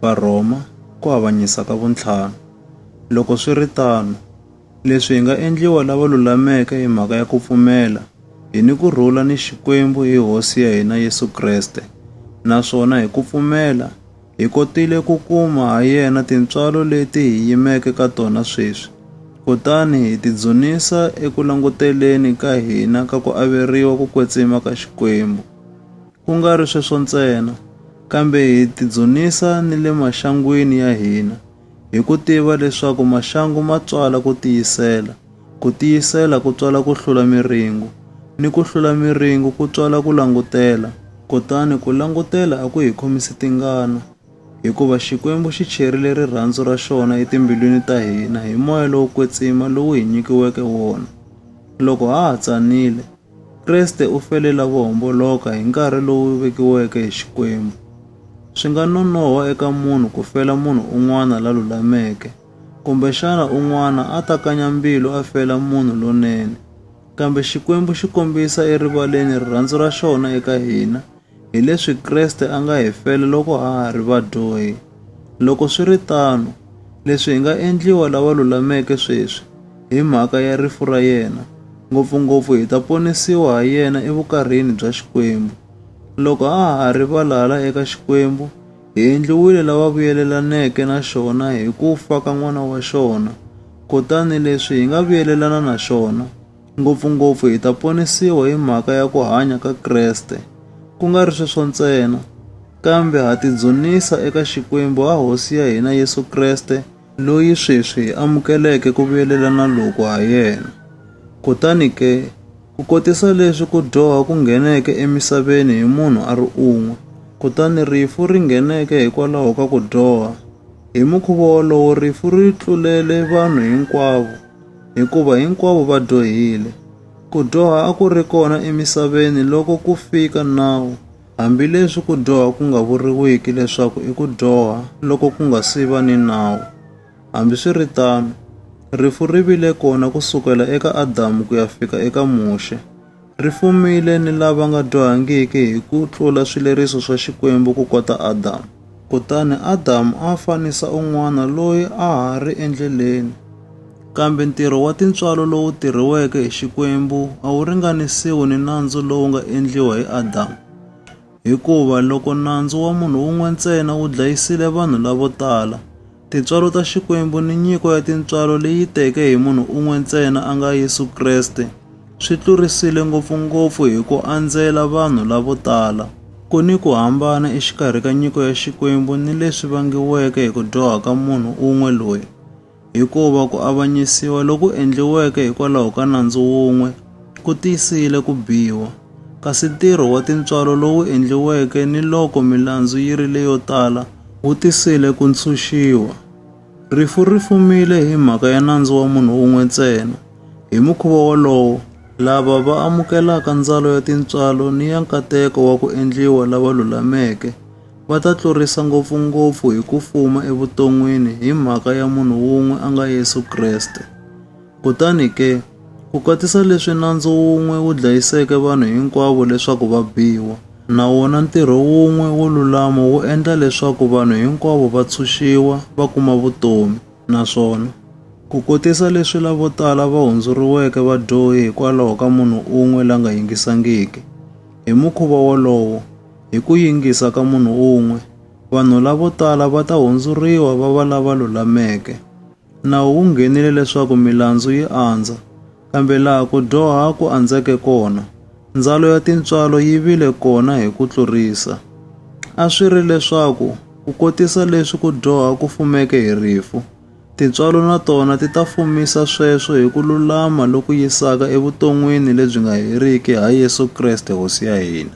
Varhoma ku avanyisa ka vuntlhanu. Loko swi ri tano, leswi hi nga endliwa lava lulameke hi mhaka ya ku pfumela hi ni ku rhula ni Xikwembu hi Hosi ya hina Yesu Kreste, naswona hi ku pfumela hi kotile ku kuma ha yena tintswalo leti hi yimeke ka tona sweswi, kutani hi tidzunisa eku languteleni ka hina ka ku averiwa ku kwetsima ka Xikwembu. Ku nga ri sweswo ntsena, kambe hi tidzunisa ni le maxangwini ya hina, hi ku tiva leswaku maxangu ma tswala ku tiyisela, ku tiyisela ku tswala ku hlula miringu, ni ku hlula miringu ku tswala ku langutela. Kutani ku langutela a ku hi khomisi tingana, hikuva Xikwembu xi cherile rirhandzu ra xona etimbilwini ta hina hi moya lowo kwetsima lowu hi nyikiweke wona loko ha ha tsanile. Kreste u fele lavo homboloka hi nkarhi lowu vekiweke hi Xikwembu. Swi nga nonoha eka munhu ku fela munhu un'wana la lulameke, kumbexana un'wana a ta kanya mbilu a fela munhu lonene. Kambe Xikwembu xi kombisa erivaleni rirhandzu ra xona eka hina Hi leswi Kreste a nga hi fela loko a ha ri vadyohi. Loko swi ri tano, leswi hi nga endliwa lava lulameke sweswi hi mhaka ya rifu ra yena, ngopfu-ngopfu hi ta ponisiwa ha yena evukarhini bya Xikwembu. Loko a ha ri valala eka Xikwembu, hi endliwile lava vuyelelaneke na xona hi ku fa ka N'wana wa xona, kutani leswi hi nga vuyelelana na xona, Ngopfu-ngopfu hi ta ponisiwa hi mhaka ya ku hanya ka Kreste, ku nga ri sweswo ntsena, kambe ha tidzunisa eka Xikwembu ha Hosi ya hina Yesu Kreste, loyi sweswi hi amukeleke ku vuyelelana loku ha yena. Kutani ke, ku kotisa leswi ku dyoha ku ngheneke emisaveni hi munhu a ri un'we, kutani rifu ri ngheneke hikwalaho ka ku dyoha, hi mukhuva wolowo rifu ri tlulele vanhu hinkwavo. hikuva hinkwavo va dyohile. Ku dyoha a ku ri kona emisaveni loko ku fika nawu, hambileswi ku dyoha ku nga vuriwiki leswaku i ku dyoha loko ku nga si va ni nawu. Hambiswiritano, rifu ri vile kona ku sukela eka Adamu ku ya fika eka Muxe. Ri fumile ni lava nga dyohangiki hi ku tlula swileriso swa Xikwembu ku kota Adamu. Kutani Adamu a fanisa un'wana loyi a ha ri endleleni. Kambe ntirho wa tintswalo lowu tirhiweke hi Xikwembu a wu ringanisiwi ni nandzu lowu nga endliwa hi Adamu. Hikuva loko nandzu wa munhu wun'we ntsena wu dlayisile vanhu lavo tala, Tintswalo ta Xikwembu ni nyiko ya tintswalo leyi teke hi munhu un'we ntsena a nga Yesu Kreste swi tlurisile ngopfu-ngopfu hi ku andzela vanhu lavo tala. Ku ni ku hambana exikarhi ka nyiko ya Xikwembu ni leswi vangiweke hi ku dyoha ka munhu un'we loyi, hikuva ku avanyisiwa loku endliweke hikwalaho ka nandzu wun'we, Ku tiyisile ku biwa, kasi ntirho wa tintswalo lowu endliweke ni loko milandzu yi ri leyo tala wu tisile ku ntshunxiwa. Rifu ri fumile hi mhaka ya nandzu wa munhu un'we ntsena. Hi mukhuva wolowo, lava va amukelaka ndzalo ya tintswalo ni ya nkateko wa ku endliwa lava lulameke va ta tlurisa ngopfu-ngopfu hi ku fuma evuton'wini hi mhaka ya munhu un'we a nga Yesu Kreste. Kutani ke, ku katisa leswi nandzu wun'we wu dlayiseke vanhu hinkwavo leswaku va biwa, na wona ntirho wun'we wo lulama wu endla leswaku vanhu hinkwavo va tshunxiwa va kuma vutomi, naswona, ku kotisa leswi lavo tala va hundzuriweke vadyohi hikwalaho ka munhu un'we la nga yingisangiki. Hi mukhuva wolowo, hi ku yingisa ka munhu un'we, vanhu lavo tala va ta hundzuriwa va va lava lulameke. nawu wu nghenile leswaku milandzu yi andza, kambe laha ku dyoha ku andzeke kona, ndzalo ya tintswalo yi vile kona hi ku tlurisa. A swi ri leswaku ku kotisa leswi ku dyoha ku fumeke hi rifu, tintswalo na tona ti ta fumisa sweswo hi ku lulama loku yisaka evuton'wini lebyi nga heriki ha Yesu Kreste Hosi ya hina.